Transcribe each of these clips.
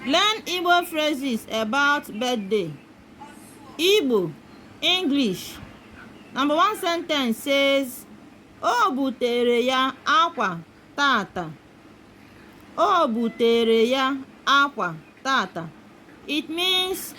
Learn Igbo phrases about birthday. Igbo, English. Number one sentence says, O butere ya akwa tata. O butere ya akwa tata. It means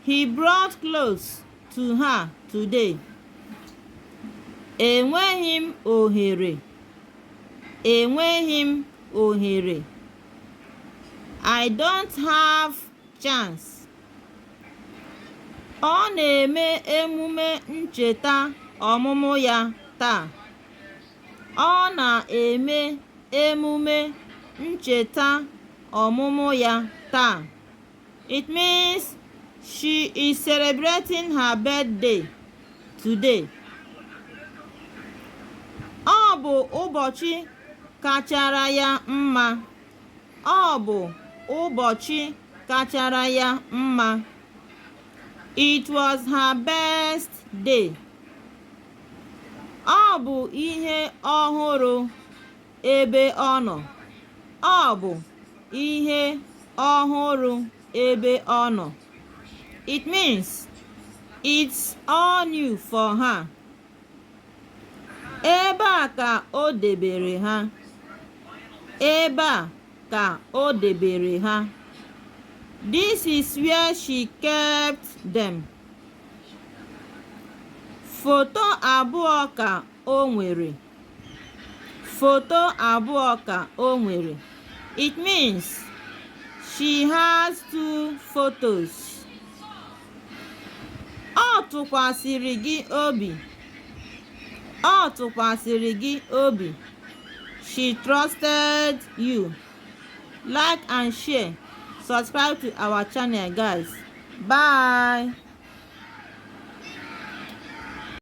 he brought clothes to her today. Enweghị m ohere. enweghị m ohere I don't have chance ọ na-eme emume ncheta ọmụmụ ya taa ọ na-eme emume ncheta ọmụmụ ya taa It means she is celebrating her birthday today. Ọ bụ ụbọchị kachara ya mma. Ọ bụ ụbọchị kachara ya mma. It was her best day. Ọ bụ ihe ọhụrụ. ebe ọ nọ. Ọ bụ ihe ọhụrụ ebe ọ nọ. It means it's all new for her. Ebe a ka o debere ha. Ebe a ka o debere ha. This is where she kept them. Foto abụọ ka o nwere. Foto abụọ ka o nwere. It means she has two photos. Ọ tụkwasịrị gị obi. Ọ tụkwasịrị gị obi. She trusted you. Like and share. Subscribe to our channel guys. Bye.